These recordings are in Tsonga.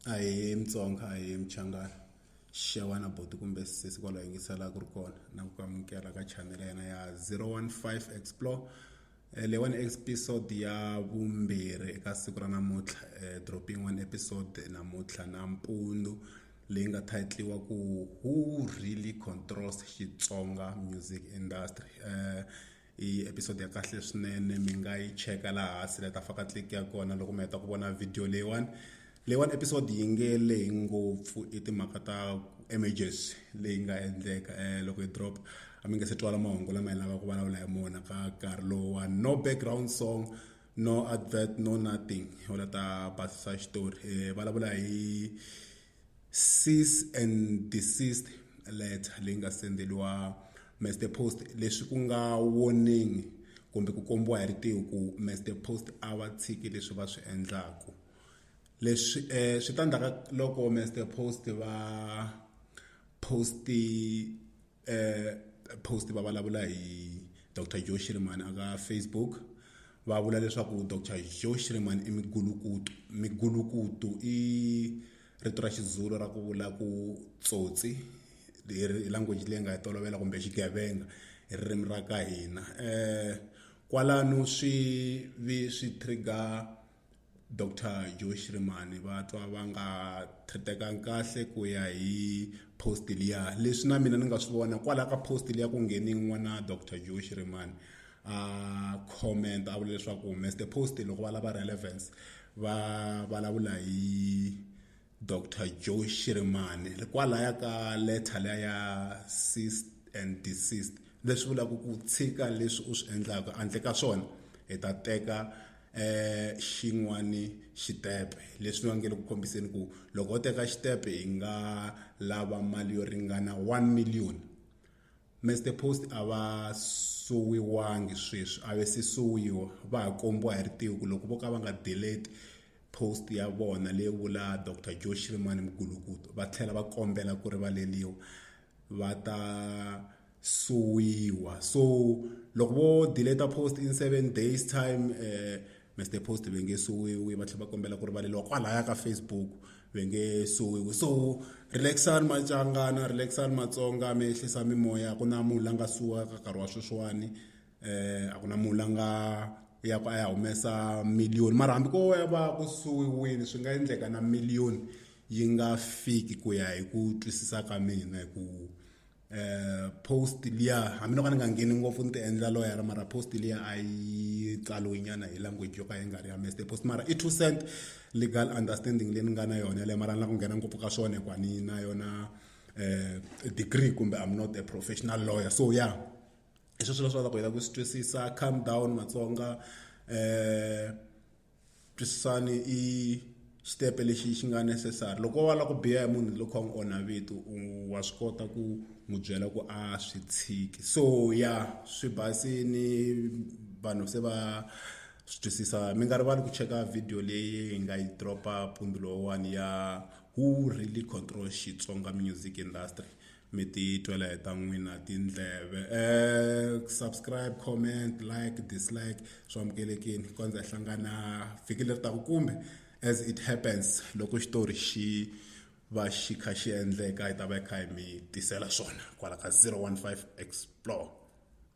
a hi mutsonga a hi muchangana xewani boti kumbe sesi kwalo yingisela ku ri kona na ku amukela ka channel ya yena ya 015 explore Eh, leyiwani episode ya vumbirhi eka siku ra namuntlha eh, dropping one episode namuntlha na mpundu leyi nga titliwa ku who really controls xitsonga music industry eh, i episode ya kahle swinene mi nga yi cheka laha hansi le ta faka click ya kona loko mi heta ku vona video leyiwani leyiwani episode yi nge lehi ngopfu i timhaka ta images leyi nga endleka um loko yi drop a mi nge se twala mahungu lama hi lava ku vulavula hi mona ka nkarhi lowuwani no background song no advert no nothing u la ta basisa xitori um vulavula hi cease and desist letter leyi nga sendeliwa Mr Post leswi ku nga warning kumbe ku kombiwa hi ritiho ku Mr Post a va tshiki leswi va swi endlaku leswi um swi ta ndzhaka loko Mr Post va post-i. eh, post va vulavula hi dr joe shiriman aka facebook va vula leswaku dr joe shiriman i migulukutu migulukutu i rito ra xizulu ra ku vula ku tsotsi hi language leyi nga yi tolovela kumbe xigevenga hi ririmi ra ka hina um kwalano swi vi swi trigger Dr Joe Shirimani va twa va nga thretekangi kahle ku ya hi post liya leswi na mina ni nga swi vona kwalaho ka post liya ku ngheni n'wana Dr Joe Shirimani a comment a vula leswaku mr post loko va lava relevance va vulavula hi dr joe shirimani hikwalaya ka letter leya ya ceased and desist leswi vulaka ku tshika leswi u swi endlaka handle ka swona hi ta teka eh xin'wani xitepe leswi va nge le ku kombiseni ku loko u teka xitepe hi nga lava mali yo ringana 1 million Mr Post a va suwiwangi sweswi a ve se suwiwa va ha kombiwa hi ritiku loko vo ka va nga delete post ya vona leyi vula dr joe shirimani mugulukuto va tlhela va kombela ku rivaleliwa va ta suwiwa so loko vo deleta post in seven days time eh, mr post ve nge suwiwi va tlhela va kombela ku rivaleliwa kwalaya ka facebook ve nge suwiwi so relaxani macangana relaxani matsonga mi ehlisa mimoya ku na munhu la nga suwaka nkarhi wa sweswiwani eh a ku na munhu la nga ya ku a ya humesa miliyoni mara hambi ko ya va ku suwiwile swi nga endleka na miliyoni yi nga fiki ku ya hi ku twisisa ka mina hi ku eh post liya hambi no ka ni nga ngheni ngopfu ni ti endla loyara mara post liya a yi tsaliwe nyana hi language yo ka yi nga ri ya mester post mara i two cent legal understanding leyi ni nga na yona yaleyo mara ni la ku nghena ngopfu ka swona hikuva ni na yona eh degree kumbe i'm not a professional lawyer so ya yeah. hi sweswo leswi lavaka ku heta ku swi twisisa calm down matsonga um twisisani i xitepe lexi xi nga necessary loko wa lava ku biha hi munhu loko a n'wi onha vito wa swi kota ku n'wi byela ku a swi tshiki so ya swi basini vanhu se va swi twisisa mi nga rivali ku cheka video leyi hi nga yi dropa mpundzu lowuwani ya who really control Xitsonga music industry mi ti twela hi ta n'wina tindleve um subscribe comment like dislike swi amukelekini kondza hi hlangana vhiki leri taku kumbe as it happens loko xitori xi va xi kha xi endleka hi ta va hi kha hi mi tisela swona kwala ka 015 explore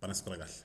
va na siku ra kahle